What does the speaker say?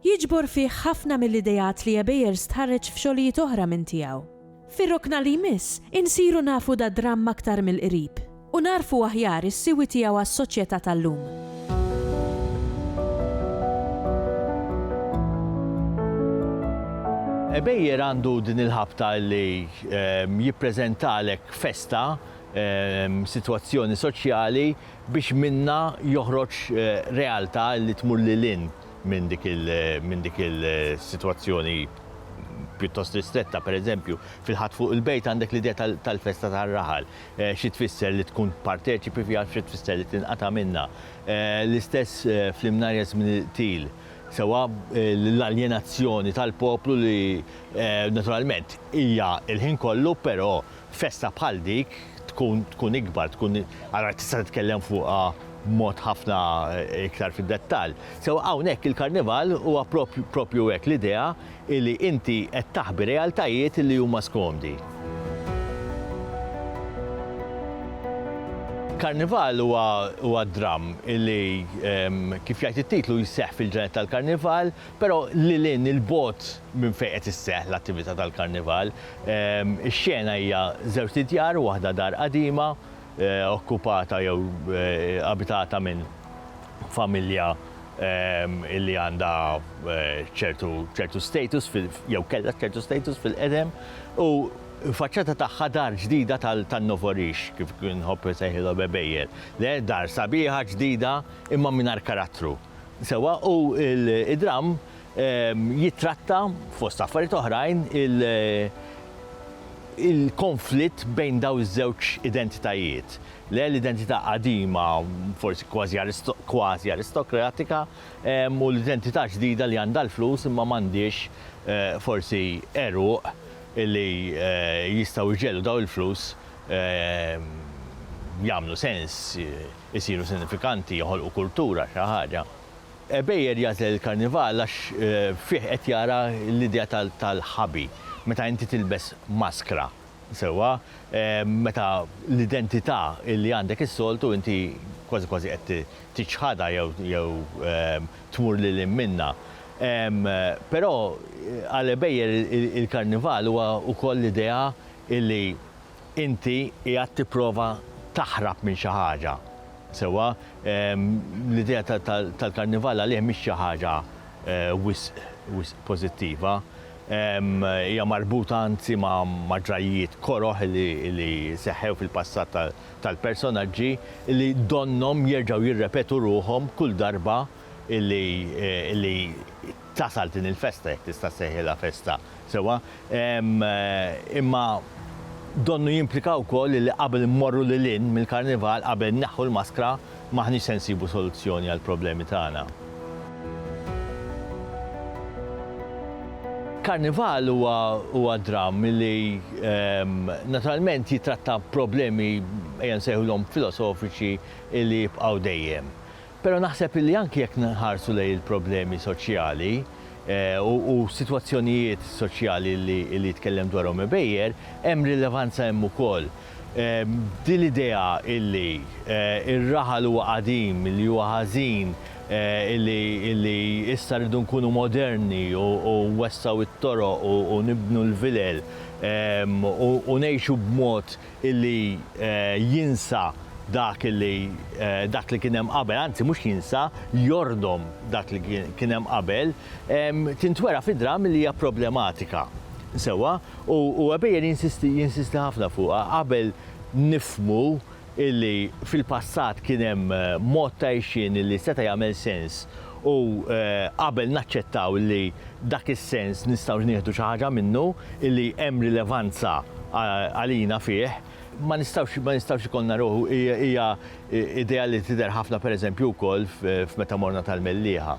Jiġbor fih ħafna mill-ideat li Ebejer stħarreġ f'xogħlijiet oħra minn tiegħu. Fir-rokna li jmiss, insiru nafu dad-dramm aktar mill-qrib u nagħrfu aħjar is-siwi tiegħu għas-soċjetà tal-lum. Ebejer għandu din il-ħabta li jippreżentalek festa, sitwazzjoni soċjali biex minnha joħroġ realtà li tmur lil hinn. minn dik il-sitwazzjoni pjuttost ristretta. Pereżempju, fil-Ħadd fuq il-Bejt għandek l-idea tal-festa tar-raħal, xi tfisser li tkun parteċipi fiha, xi tfisser li tinqata' minnha. L-istess fl-Imnarja Żmien il-Qtil, sewwa l-aljenazzjoni tal-poplu li naturalment hija l-ħin kollu, però Festa bħal dik tkun tkun ikbar, tkun allura tista' titkellem fuqha b'mod ħafna iktar fid-dettall. Sew hawnhekk il-Karnival huwa proprju hekk, l-idea li inti qed taħbi realtajiet li huma skomdi. Karnival huwa huwa dramm li kif jgħid it-titlu jseħħ fil-ġranet tal-Karnival, Però lil hinn 'il bogħod minn fejn qed isseħħ l-attività tal-Karnival, ix-xena hija żewġt idjar, waħda dar qadima okkupata jew abitata minn familja li għandha ċertu ċertu status jew kellha ċertu status fil-qedem u faċċata tagħha dar ġdida tan-novorix kif inħobb insejħilhom għebejjer, le dar sabiħa ġdida imma mingħajr karattru. Sewwa, u d-dramm jittratta, fost affarijiet oħrajn, il-konflitt bejn dawn iż-żewġ identitajiet. Le, l-identità qadima, forsi kważi aristokratika, u l-identità ġdida li għandha l-flus imma m'għandhiex forsi għeruq li jistgħu jġegħlu dawn il-flus jagħmlu sens. isiru sinifikanti, joħolqu kultura, xi ħaġa. Ebejer jagħżel il-Karnival għax fih qed jara l-idea tal-ħabi, meta inti tilbes maskra, sewwa, meta l-identità li għandek is-soltu inti kważi kważi qed tiċħadha jew tmur lil hinn minnha. Però għal Ebejer il-Karnival huwa wkoll l-idea li Inti qiegħed tipprova taħrab minn xi ħaġa, sewwa? L-idea tal-Karnival għalih mhix xi ħaġa wisq wisq pożittiva. Hija marbuta anzi ma' ġrajjiet koroh li seħħew fil-passat tal-personaġġi li donnhom jerġgħu jirrepetu ruħhom kull darba illi tasal din il-festa, jekk tista' ssejħilha festa sewwa, imma donnu jimplika wkoll illi qabel immorru lil hinn mill-Karnival, qabel inneħħu l-maskra, m'aħniex se nsibu soluzzjoni għall-problemi tagħna. Karnival huwa dramm illi naturalment jittratta problemi, ejja nsejħulhom filosofiċi, illi jibqgħu dejjem. Però naħseb illi anki jekk nħarsu lejn il-problemi soċjali u sitwazzjonijiet soċjali li jitkellem dwarhom Ebejer, hemm rilevanza hemm ukoll. Din l-idea illi r-raħal huwa qadim, illi huwa ħażin, illi issa rridu nkunu moderni u nwessgħu t-toroq u nibnu l-vilel u ngħixu b'mod illi jinsa dak illi dak li kien hemm qabel, anzi mhux jinsa, jordom dak li kien hemm qabel, tintwera fid-dramm li hija problematika. Sewwa? U Webejer jinsisti jinsisti ħafna fuqha qabel nifhmu illi fil-passat kien hemm mod ta' għixien illi seta' jagħmel sens U qabel naċċettaw li dak is-sens nistgħux nieħdu xi ħaġa minnu, li hemm rilevanza għalina fih, ma nistgħux ma nistgħux ikollna ruħ hija idea li tidher ħafna pereżempju wkoll f'Meta Morna tal-Mellieħa.